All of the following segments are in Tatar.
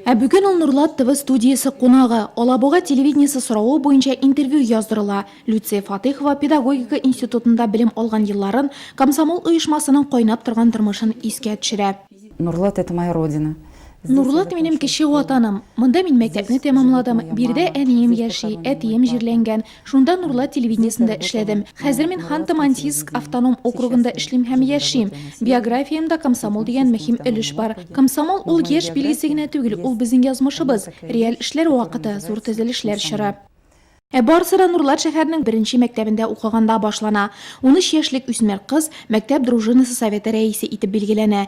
Ә бүген ул Нурлат ТВ студиясе кунагы. Алабуга телевидениесе соравы буенча интервью яздырыла. Люция Фатыйхова педагогика институтында белем алган елларын, комсомол оешмасының кайнап торган тормышын искә төшерә. Нурлат, это моя родина. Нурлат минем кече ватаным. Монда мин мәктәпне тәмамладым. Биредә әнием яши, әтием җирләнгән. Шунда Нурлат телевидениесендә эшләдем. Хәзер мин Ханты-Мансийск автоном округында эшлим һәм яшим. Биографиямдә комсомол дигән мөһим өлеш бар. Комсомол ул яшь билгесе генә түгел, ул безнең язмышыбыз, реаль эшләр вакыты, зур төзелешләр чоры. Ә барысы да Нурлат шәһәренең беренче мәктәбендә укыганда башлана. Унөч яшьлек үсмер кыз мәктәп дружинасы советы рәисе итеп билгеләнә.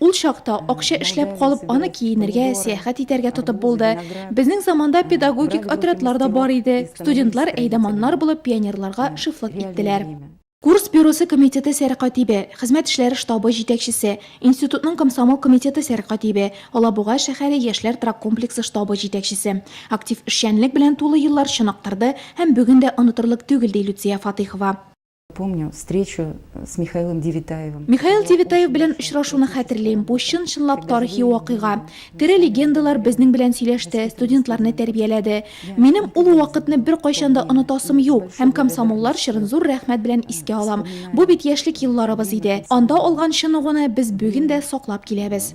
Ул чакта акча эшләп калып, аны киенергә, сәяхәт итәргә тотып булды. Безнең заманда педагогик отрядлар да бар иде. Студентлар әйдаманнар булып пионерларга шефлык иттеләр. Курс бюросы комитеты сәркатибе, хезмәт эшләре штабы җитәкчесе, институтның комсомол комитеты сәркатибе, Алабуга шәһәре яшьләр траккомплексы штабы җитәкчесе. Актив эшчәнлек белән тулы еллар чыныктырды һәм бүген дә онытырлык түгел, ди Люция Фатыйхова. Помню встречу с Михаилом Девитаевым. Михаил Девитаев белән очрашуны хәтерлим. Бу чын чынлап тарихи вакыйга. Тере легендалар безнең белән сөйләште, студентларны тәрбияләде. Минем ул вакытны бер кайчан да онытасым юк. Һәм комсомоллар чырын зур рәхмәт белән искә алам. Бу бит яшьлек елларыбыз иде. Анда алган чыныгуны без бүген дә саклап киләбез.